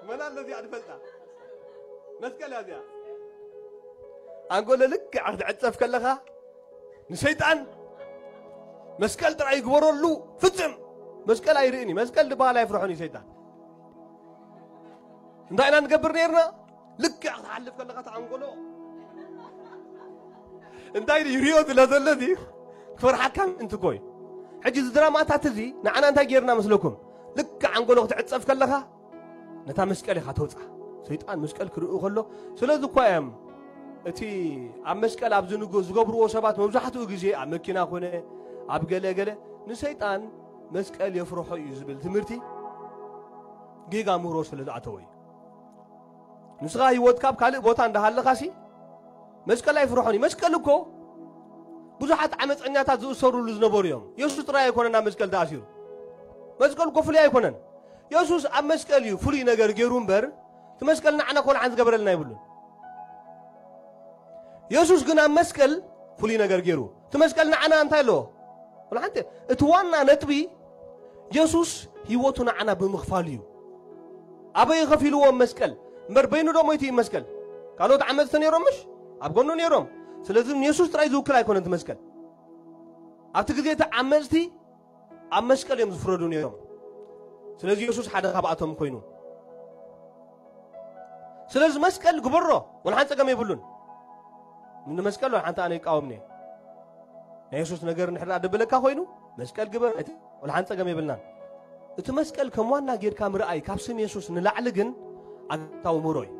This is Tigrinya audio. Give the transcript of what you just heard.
መን ኣሎ እዚኣ ድፈልጣ መስቀል እያ እዚኣ ኣንጎሎ ልክዕ ክትዕፀፍ ከለኻ ንሰይጣን መስቀል ጥራይ ይግበረሉ ፍፅም መስቀል ኣይርእን እዩ መስቀል ዝበሃል ኣይፍርሖን እዩ ሰይጣን እንታይ ኢና ንገብር ነርና ልክዕ ክትሓልፍ ከለኻ ተዓንጎሎ እንታይ ይሪኦ ስለ ዘሎ እዚ ክፈርሓካ ምእንቲ ኮይ ሕጂ እዚ ድራማታት እዚ ንዓና እንታይ ጌርና መስለኩም ልክዕ ዓንጎሎ ክትዕፀፍ ከለኻ ነታ መስቀል ኢኻ ተውፃ ሰይጣን መስቀል ክርእዩ ከሎ ስለዚ እኳ እዮም እቲ ኣብ መስቀል ኣብ ዝገብርዎ ሰባት መብዛሕትኡ ግዜ ኣብ መኪና ኮነ ኣብ ገለገለ ንሰይጣን መስቀል የፍርሖ እዩ ዝብል ትምህርቲ ጌጋ ምህሮ ስለ ዝኣተወ እዩ ንስኻ ህይወትካ ኣብ ካልእ ቦታ እንዳሃለኻሲ መስቀል ኣይፍርሖን እዩ መስቀል እኮ ብዙሓት ዓመፀኛታት ዝእሰሩሉ ዝነበሩ እዮም የሱስ ጥራይ ኣይኮነን ኣብ መስቀል ተኣሲሩ መስቀል እኮ ፍሉይ ኣይኮነን የሱስ ኣብ መስቀል እዩ ፍሉይ ነገር ገይሩ እምበር እቲ መስቀል ንዓና ኮልዓን ዝገበረልና ይብሉን የሱስ ግን ኣብ መስቀል ፍሉይ ነገር ገይሩ እቲ መስቀል ንዓና እንታይ ኣለዎ? ወላ ሓንቲ እቲ ዋና ነጥቢ የሱስ ህይወቱ ንዓና ብምኽፋሉ እዩ። ኣበይ እዩ ከፊልዎም መስቀል? እምበር በይኑ ዶ ሞይቱ እዩ መስቀል? ካልኦት ዓመፅቲ ነይሮም ምሽ? ኣብ ጎኑ ነይሮም። ስለዚ ንየሱስ ጥራይ ዝውክል ኣይኮነን እቲ መስቀል። ኣብቲ ግዜ እቲ ዓመፅቲ ኣብ መስቀል እዮም ዝፍረዱ ነይሮም። ስለዚ የሱስ ሓደ ካብኣቶም ኮይኑ ስለዚ መስቀል ግበሮ ወልሓን ጸገም የብሉን ንመስቀል ሓንቲ ኣነ ይቃወምኒ ናይ የሱስ ነገር ንሕዳ ደበለካ ኮይኑ መስቀል ግበር ወልሓን ጸገም የብልናን እቲ መስቀል ከም ዋና ጌርካ ምርኣይ ካብ ስም የሱስ ንላዕሊ ግን ኣግታዊ ምሮ እዩ